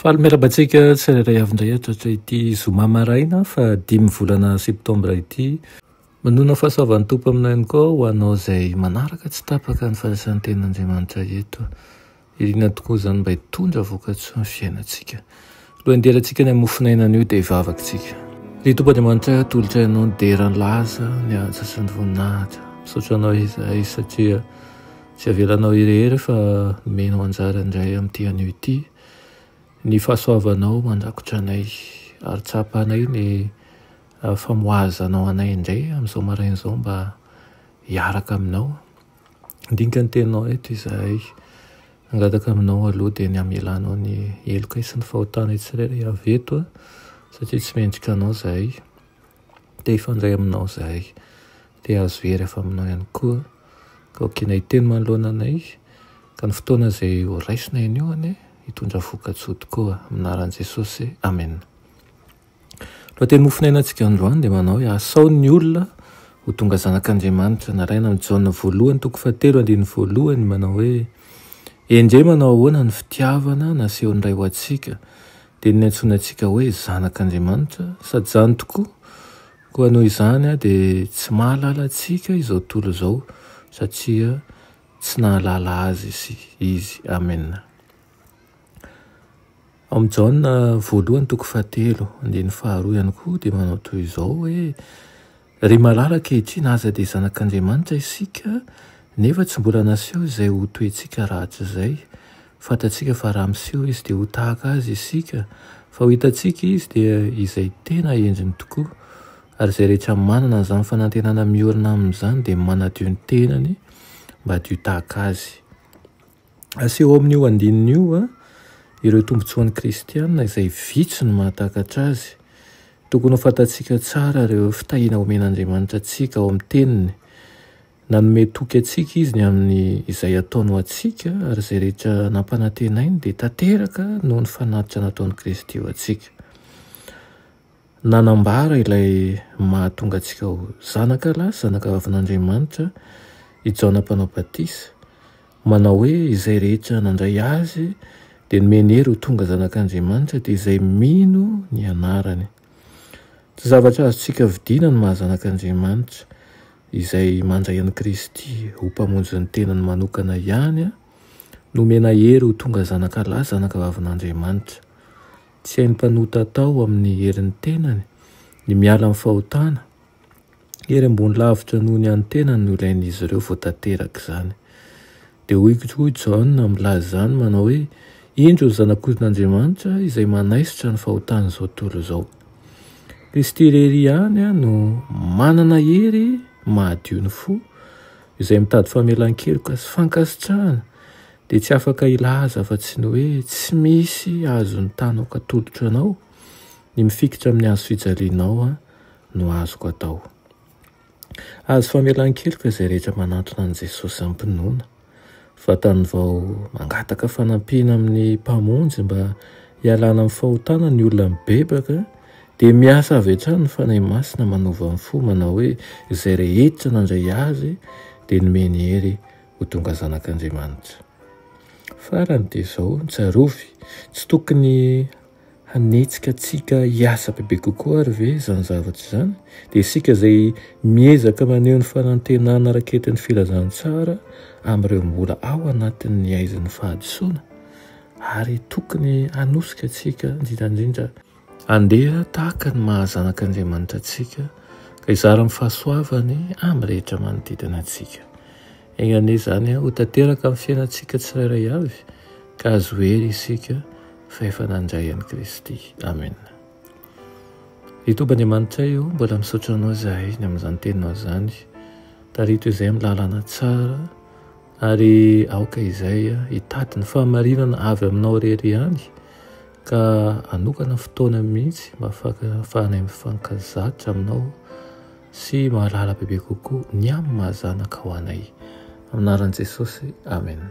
Faly miarahaba antsika tsirairay avy indray hatratra ity zoma maraina fa dimy volana septambra ity. Manona fahasoavan'ny Tompo aminao ihany koa ho anao izay manaraka tsy tapaka ny fanasanten'Andriamanitra eto. Iriana tokoa izany mba hitondra vokatsoa ny fiainantsika. Alohan'ny hiderantsika ny amin'ny mofon'ainan'io dia hivavaktsika. Ry Tompo Andriamanitra, atolotra ianao ny dera ny laza, ny antsa sy ny voninahitra. Misaotra anao izahay satria Tsy avelanao hirehery fa omenao anjara indray amin'ity anio ity ny fahasoavanao mandrakotra anay, ary tsapanay ny famoahazanao anay indray amin'izao maraina izao mba hiaraka aminao. Handinika ny teninao eto izahay. Mangataka aminao aloha dia ny hamelanao ny helokay sy ny fahotanay tsirairay avy eto satria tsy mendrika anao izahay. Te hifandray aminao izahay. Dia azo hery avy aminao ihany koa ka hokiana hiteny manoloana anay ka ny fotoana izay ho raisina eny io anie hitondra vokatsoa tokoa amin'ny anaran'i Jesosy Amen. Lohateny Mofo niainantsika androany dia manao hoe asao ny olona ho tonga zanak'Andriamanitra naraina amin'i Jaona voalohany toko fahatelo andininy voalohany manao hoe endrey manao ahoana ny fitiavana nasehon'ny Ray ho antsika dia ny niantsoany antsika hoe zanak'Andriamanitra sady izany tokoa Koa noho izany dia tsy mahalala antsika izao tontolo izao satria tsy nahalala azy izy. Amen. Ao amin'ny Jaona voalohany toko fahatelo andininy faharoa ihany koa dia manao toy izao hoe Ry malala ankehitriny aza dia zanak'Andriamanitra isika nefa tsy mbola naseho izay ho toentsika rahatrizay. Fantatsika fa raha miseho Izy dia ho tahaka Azy isika, fa ho hitantsika Izy dia izay tena endriny tokoa. Ary izay rehetra manana an'izany fanantenana miorina aminy izany dia manadio ny tenany mba hadio tahaka Azy. Aseho ao amin'io andininy io ireo tombontsoan'ny kristiana izay vitsy no mahatakatra azy. Tokony ho fantatsika tsara ireo fitahiana omen'Andriamanitra antsika ao amin'ny Teniny. Nanome toky antsika Izy ny amin'ny izay ataony ho antsika, ary izay rehetra nampanantenainy dia tanteraka noho ny fanatitra nataon'i Kristy ho antsika. Nanambara ilay mahatonga antsika ho zanaka lahy sy zanaka vavin'Andriamanitra i Jaona Mpanao Batisa, manao hoe, Izay rehetra nandray Azy dia nomeny hery ho tonga zanak'Andriamanitra, dia izay mino ny anarany. Tsy zavatra azontsika vidiana ny maha zanak'Andriamanitra, izay mandray an'i Kristy ho Mpamonjy ny tenany manokana ihany nomena hery ho tonga zanaka lahy zanakavavin'Andriamanitra. Tsy hain'ny mpanota atao amin'ny herin'ny tenany ny miala amin'ny fahotana, Hery ambony lavitra noho ny an'ny tenany no ilain'izy ireo vao tanteraka izany. Dia hoy koa i Jaona milaza izany manao hoe, Indro ny Zanak'ondrin'Andriamanitra izay manaisotra ny fahotan'izao tontolo izao. Kristy irery ihany no manana hery mahadio ny fo, izay mitady famelan-keloka sy fankasitrahana dia tsy afaka hilaza afa-tsy ny hoe tsy misy azon'ny tany ho katolotro anao ny mifikitra amin'ny hazo fijalianao no azoko atao. Azo famelan-keloka izay rehetra manantona an'i Jesosy am-pinoana. Vatany vao mangataka fanampiana amin'ny Mpamonjy mba hialana amin'ny fahotana ny olona mibebaka, dia miasa avy hatrany ny Fanahy Masina manova ny fo manao hoe izay rehetra nandray Azy dia nomeny hery ho tonga zanak'Andriamanitra. Farany dia izao, tsarovy, tsy tokony Hanetsika antsika hiasa bebe kokoa àry ve izany zavatra izany? Dia isika izay miezaka maneho ny fanantenana raketin'ny filazantsara amin'ireo mbola ao anatin'ny haizin'ny fahadisoana ary tokony hanosika antsika indrindra indrindra, handeha tahaka ny maha zanak'Andriamanitra antsika ka hizara ny fahasoavany amin'ny rehetra manodidina antsika. Enga anie izany ho tanteraka amin'ny fiainantsika tsirairay avy ka azo hery isika fa efa nandray an'i Kristy. Amena. Ry Tompo Andriamanitray o, mbola misaotra Anao izahay ny amin'izany teninao izany. Tarito izay amin'ny lalana tsara ary aoka izay hitady ny fahamarinana avy Aminao irery ihany ka anokana fotoana mihitsy mba fahanay mifankazatra Aminao sy mahalala bebe kokoa ny amin'ny maha zanakao anay. Amin'ny anaran'i Jesosy. Amena.